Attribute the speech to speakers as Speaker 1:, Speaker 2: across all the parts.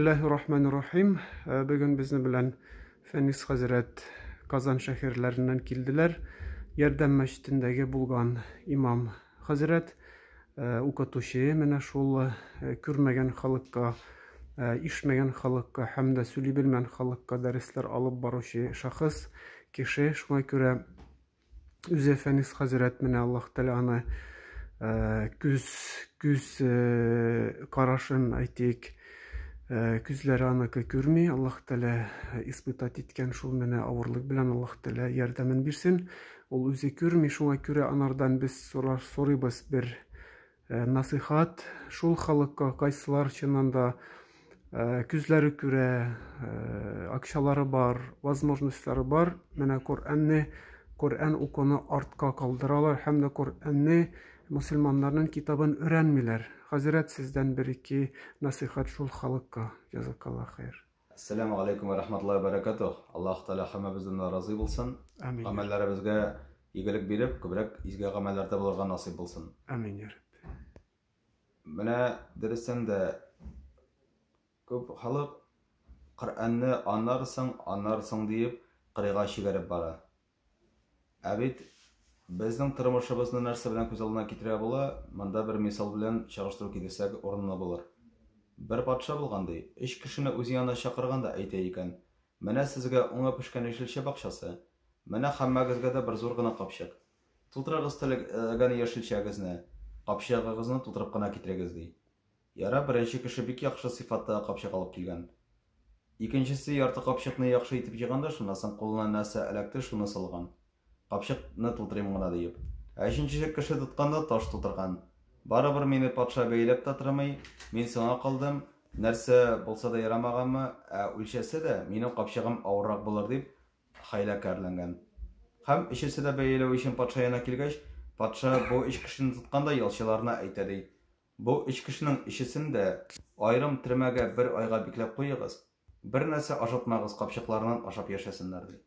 Speaker 1: Билләһи рахмәни рахим. Э, бүген безнең белән Фәнис хәзрәт Казан шәһәрләреннән килделәр. Ярдәм мәчетендәге булган имам хәзрәт э, укытучы менә шул э, күрмәгән халыкка Э, ишмәгән халыкка һәм дә сөйли белмәгән халыкка дәресләр алып баручы шәхес кеше шуңа күрә Үзе Фәнис хәзрәт менә Аллаһ Тәгалә аны э, күз күз э, карашын әйтик, э, күзләре аныкы күрми. Аллаһ Тәгалә испытать иткән шул менә авырлык белән Аллаһ Тәгалә ярдәмен бирсен. Ул үзе күрми, шуңа күрә анардан без сорар сорыйбыз бер Э, насыйхат шул халыкка кайсылар чыннан да э, күзләре күрә э, акчалары бар возможностьлары бар менә коръәнне коръән укуны артка калдыралар һәм дә коръәнне мөселманнарның китабын өйрәнмиләр хәзрәт сездән бер ике насыйхат шул халыкка язакалла хәйр Әссәләмү алейкум вә
Speaker 2: рахматуллаһи вә бәрәкәтүһ. Аллаһу Тәгалә һәммәбездән дә разый булсын. Амин. Гамәлләребезгә игелек биреп, күбрәк изге гамәлләрдә булырга насыйп булсын. Амин, я Рабби.
Speaker 1: Менә
Speaker 2: дөрестән дә күп халык Коръәнне аннарсың, аннарсың диеп, кырыйга чигәреп бара. Ә бит безнең тормышыбызны нәрсә белән күз алдына китерә була, монда бер мисал белән чагыштыру китерсәк урынлы булыр. Бер патша булган, ди, өч кешене үз янына чакырган да әйтә икән, Менә сезгә уңы пешкән яшелчә бакчасы, менә һәммәгезгә дә бер зур гына капчык. Тутырыгыз теләгән яшелчәгезне, капчыгыгызны тутырып кына китерегез, ди. Ярар, беренче кеше бик яхшы сыйфаттагы капчык алып килгән. Икенчесе ярты капчыкны яхшы итеп җыйган да шуннан соң кулына нәрсә эләкте, шуны салган. Капчык ны тутырыйм гына диеп. Ә өченче кеше тотканда таш тутырган. Барыбер мине патша бәяләп тә тормый, мин соңа калдым, нәрсә булса да ярамаганмы, ә үлчәсә дә, минем капчыгым авыррак булыр дип хәйлә кәрләнгән. Һәм өчесе дә бәяләү өчен патша янына килгәч, патша бу өч кешене тоткан да ялчыларына әйтә ди, Бу өч кешенең өчесен дә аерым төрмәгә бер айга бикләп куегыз, бернәрсә ашатмагыз, капчыкларыннан ашап яшәсеннәр, ди.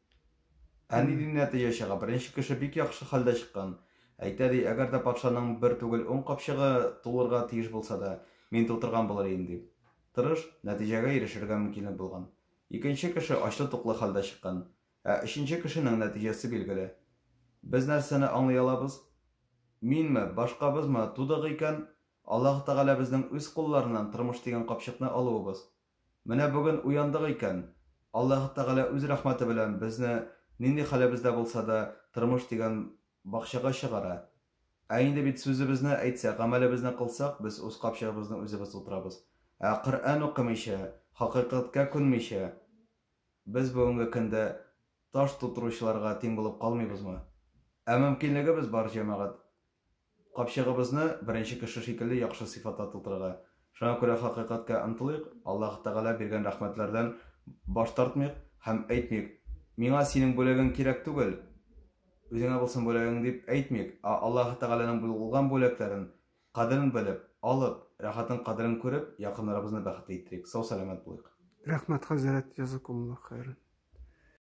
Speaker 2: Ә ни ди нәтиҗә чыга? Беренче кеше бик яхшы хәлдә чыккан. Әйтә, ди, әгәр дә патшаның бер түгел, ун капчыгы тулырга тиеш булса да, мин тутырган булыр идем, дип, тырыш, нәтиҗәгә ирешергә мөмкинлек булган. Икенче кеше ачлы-туклы хәлдә чыккан. Ә өченче кешенең нәтиҗәсе билгеле. Без нәрсәне аңлый алабыз? Минме, башкабызмы, тудык икән, Аллаһ Тәгалә безнең үз кулларыннан тормыш дигән капчыкны алуыбыз. Менә бүген уяндык икән, Аллаһ Тәгалә үз рәхмәте белән безне нинди хәлебездә булса да тормыш дигән бакчага чыгара. Ә инде бит сүзебезне әйтсәк, гамәлебезне кылсак, без үз капчыгыбызны үзебез тутырабыз. Ә Коръән укымыйча, хакыйкатькә күнмичә, Без бүгенге көндә таш тутыручыларга тиң булып калмыйбызмы? Ә мөмкинлегебез бар, җәмәгать. Капчыгыбызны беренче кеше шикелле яхшы сыйфатта тутырырга. Шуңа күрә хакыйкатькә омтылыйк, Аллаһ Тәгалә биргән рәхмәтләрдән баш тартмыйк һәм әйтмик, Миңа синең бүләгең кирәк түгел, үзеңә булсын бүләгең, дип әйтмик, ә Аллаһ Тәгаләнең булган бүләкләрен Кадерен белеп, алып, рәхәтнең кадерен күреп, якыннарыбызны
Speaker 1: бәхетле
Speaker 2: иттерик. Сау-сәламәт
Speaker 1: булыйк. Рәхмәт
Speaker 2: хәзрәт, җәзакумуллаһ хәйран.